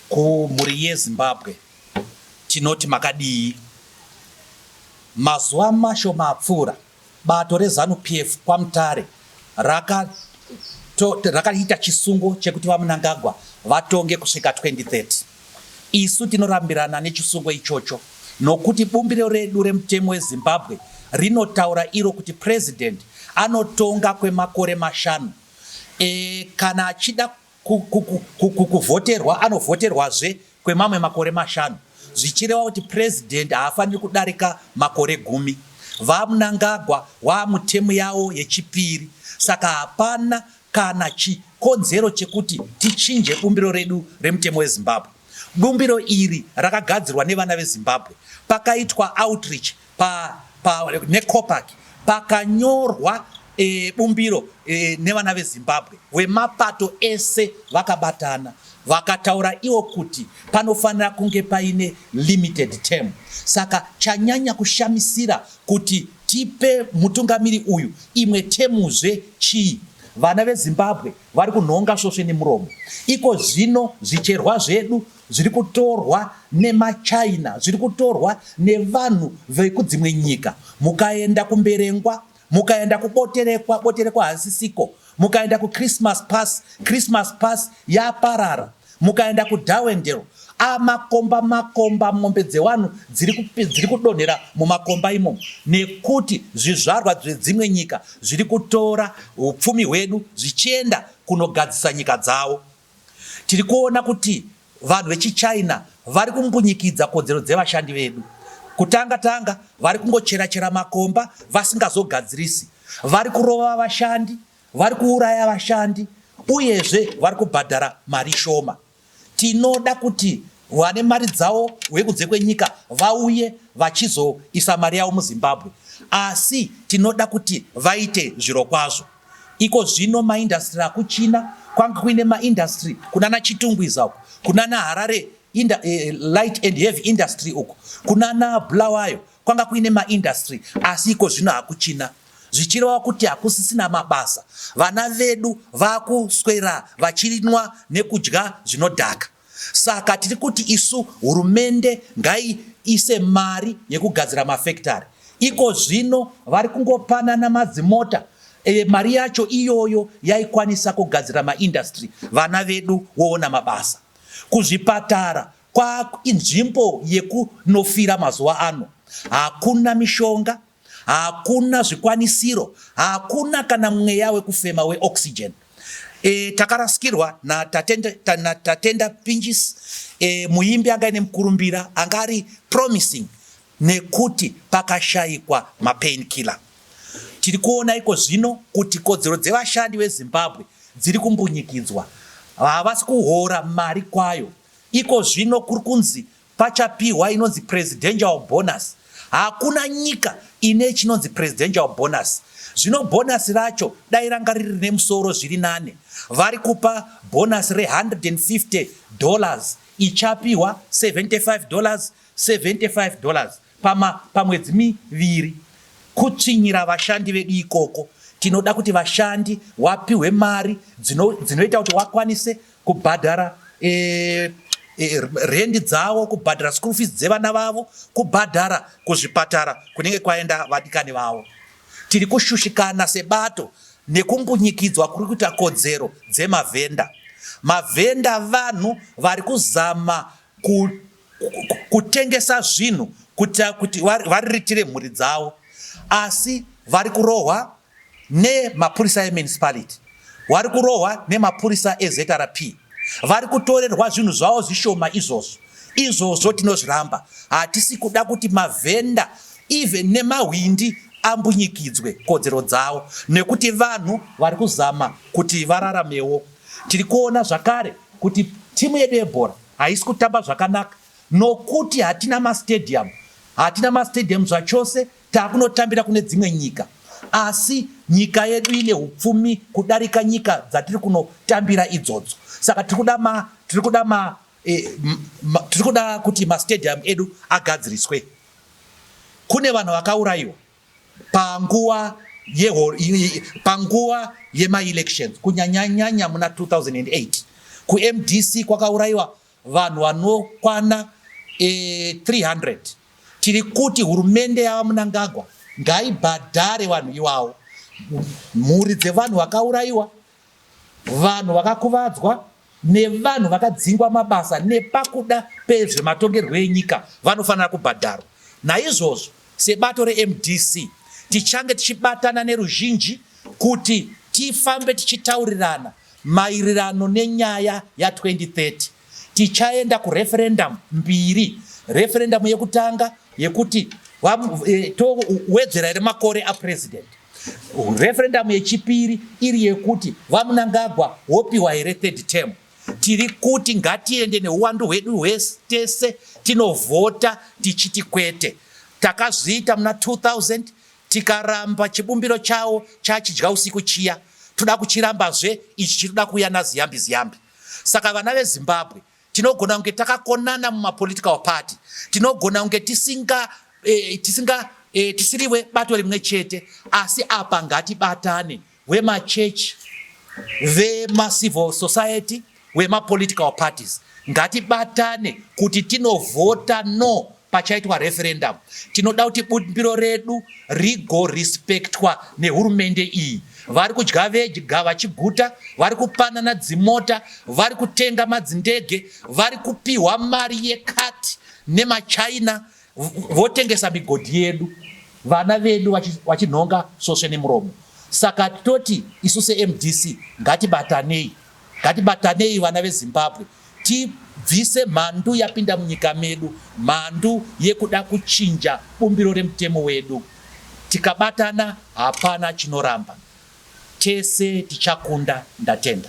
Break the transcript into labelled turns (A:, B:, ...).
A: Kumhuri yeZimbabwe tinoti makadii? Mazuva mashoma apfuura, bato reZanu PF kwaMutare rakaita raka chisungo chekuti VaMnangagwa vatonge kusvika 2030. Isu tinorambirana nechisungo ichocho nokuti bumbiro redu remutemo weZimbabwe rinotaura iro kuti president anotonga kwemakore mashanu Eeh kana achida kuvhoterwa anovhoterwazve kwemamwe makore mashanu zvichireva kuti president haafaniri kudarika makore gumi. VaMnangagwa waa mutemu yavo yechipiri saka hapana kana chikonzero chekuti tichinje bumbiro redu remutemo weZimbabwe. Bumbiro iri rakagadzirwa nevana veZimbabwe pakaitwa outreach Pa, pa neCOPAC pakanyorwa e, bumbiro e, nevana veZimbabwe vemapato ese vakabatana vakataura iwo kuti panofanira kunge paine limited term. Saka chanyanya kushamisira kuti tipe mutungamiri uyu imwe temuzve chii? Vana veZimbabwe vari kunhonga svosve nemuromo. Iko zvino zvicherwa zvedu zviri kutorwa nemaChina, zviri kutorwa nevanhu vekudzimwe nyika. Mukaenda kuMberengwa, mukaenda kuBoterekwa, Boterekwa hasisiko, mukaenda kuChristmas Pass, Christmas Pass yaparara, mukaenda kuDarwendale, a makomba makomba, mombe dzevanhu dziri kupi- dziri kudonhera mumakomba imomo, nekuti zvizvarwa zvedzimwe nyika zviri kutora upfumi hwedu zvichienda kunogadzisa nyika dzavo. Tiri kuona kuti vanhu vechiChina vari kumbunyikidza kodzero dzevashandi vedu. Kutanga tanga vari kungochera chera makomba vasingazogadzirisi, vari kurova vashandi, vari kuuraya vashandi uyezve vari kubhadhara mari shoma. Tinoda kuti vane mari dzavo vekunze kwenyika vauye vachizoisa mari yavo muZimbabwe asi tinoda kuti vaite zvirokwazvo. Iko zvino maindasitiri akuChina kwange kuine maindasitiri kunana Chitungwiza uko, kunana Harare inda, eh, light and heavy industry uko, kunana Bulawayo kwanga kuine maindasitiri asi iko zvino hakuchina zvichireva kuti hakusisina mabasa. Vana vedu vakuswera vachinwa nekudya zvinodhaka. Saka tiri kuti isu hurumende ngaiise mari yekugadzira mafekitari. Iko zvino vari kungopanana madzimota e, mari yacho iyoyo yaikwanisa kugadzira maindastry vana vedu woona mabasa. Kuzvipatara kwainzvimbo yekunofira mazuva ano, hakuna mishonga. Hakuna zvikwanisiro, hakuna kana mweya wekufema we oxygen. E, takarasikirwa na Tatenda, ta, na Tatenda Pinjis e, muimbi anga ine mukurumbira anga ari promising nekuti pakashaikwa mapain killer. Tiri kuona iko zvino kuti kodzero dzevashandi veZimbabwe dziri kumbunyikidzwa, havasi kuhora mari kwayo. Iko zvino kuri kunzi Pachapihwa inonzi presidential bonus. Hakuna nyika ine chinonzi presidential bonus. Zvino bonus racho dai ranga riri rine musoro zviri nane. Vari kupa bonus re 150 dollars ichapihwa 75 dollars 75 dollars. Pama, pamwedzi miviri kutsvinyira vashandi vedu ikoko. Tinoda kuti vashandi wapihwe mari dzino, dzinoita kuti wakwanise kubhadhara e, e, rendi dzavo, kubhadhara school fees dzevana vavo, kubhadhara kuzvipatara kunenge kwaenda vadikani vavo. Tiri kushushikana sebato nekumbunyikidzwa kuri kuita kodzero dzemavhenda. Mavhenda vanhu vari kuzama ku kutengesa zvinhu kuitira kuti variritire mhuri dzavo asi vari kurohwa nemapurisa emunicipality vari kurohwa nemapurisa ezrp vari kutorerwa zvinhu zvavo zvishoma izvozvo izvozvo tinozviramba hatisi kuda kuti mavhenda even nemahwindi ambunyikidzwe kodzero dzavo nekuti vanhu vari kuzama kuti vararamewo tiri kuona zvakare kuti timu yedu yebhora Haisi kutamba zvakanaka nokuti hatina mastadium, hatina mastadium zvachose, takunotambira kune dzimwe nyika asi nyika yedu ine upfumi kudarika nyika dzatiri kunotambira idzodzo saka tiri kuda ma tiri kuda ma eh, tiri kuda kuti mastadium edu agadziriswe kune vanhu vakaurayiwa panguva panguva yemaelections kunyanyanyanya muna 2008 kumdc kwakaurayiwa vanhu vanokwana e, eh, 300 tiri kuti hurumende yava munangagwa ngaibhadhare vanhu iwawo mhuri dzevanhu vakaurayiwa Vanhu vakakuvadzwa nevanhu vakadzingwa mabasa nepakuda pezvematongerwo enyika vanofanira kubhadharwa. Naizvozvo, sebato reMDC, tichange tichibatana neruzhinji kuti tifambe tichitaurirana maererano nenyaya ya 2030. Tichaenda kureferendamu mbiri, referendamu yekutanga yekuti eh, towedzera here makore apurezidendi Referendum yechipiri iri yekuti VaMnangagwa wopiwa here third term. Tiri kuti ngatiende neuwandu hwedu hwese tese tinovhota tichiti kwete. Takazviita muna 2000 tikaramba chibumbiro chawo chachidya usiku chiya toda kuchirambazve ichi chiri kuda kuuya naziyambi ziyambi. Saka vana veZimbabwe Tinogona kunge takakonana mumapolitical party, tinogona kunge tisinga eh, tisinga eh, tisiriwe bato rimwe chete, asi apa ngatibatane vemachechi, vemacivil society, vemapolitical parties ngatibatane kuti tinovhota no pachaitwa referendum tinoda kuti bumbiro redu rigorespectwa nehurumende iyi vari kudya vega vachiguta vari kupanana dzimota vari kutenga madzindege vari kupiwa mari yekati nemachina votengesa migodhi yedu vana vedu vachinhonga sosve nemuromo saka toti isu semdc ngatibatanei Ngatibatanei vana veZimbabwe tibvise mhandu yapinda munyika medu, mhandu yekuda kuchinja bumbiro remutemo wedu. Tikabatana hapana chinoramba. Tese tichakunda. Ndatenda.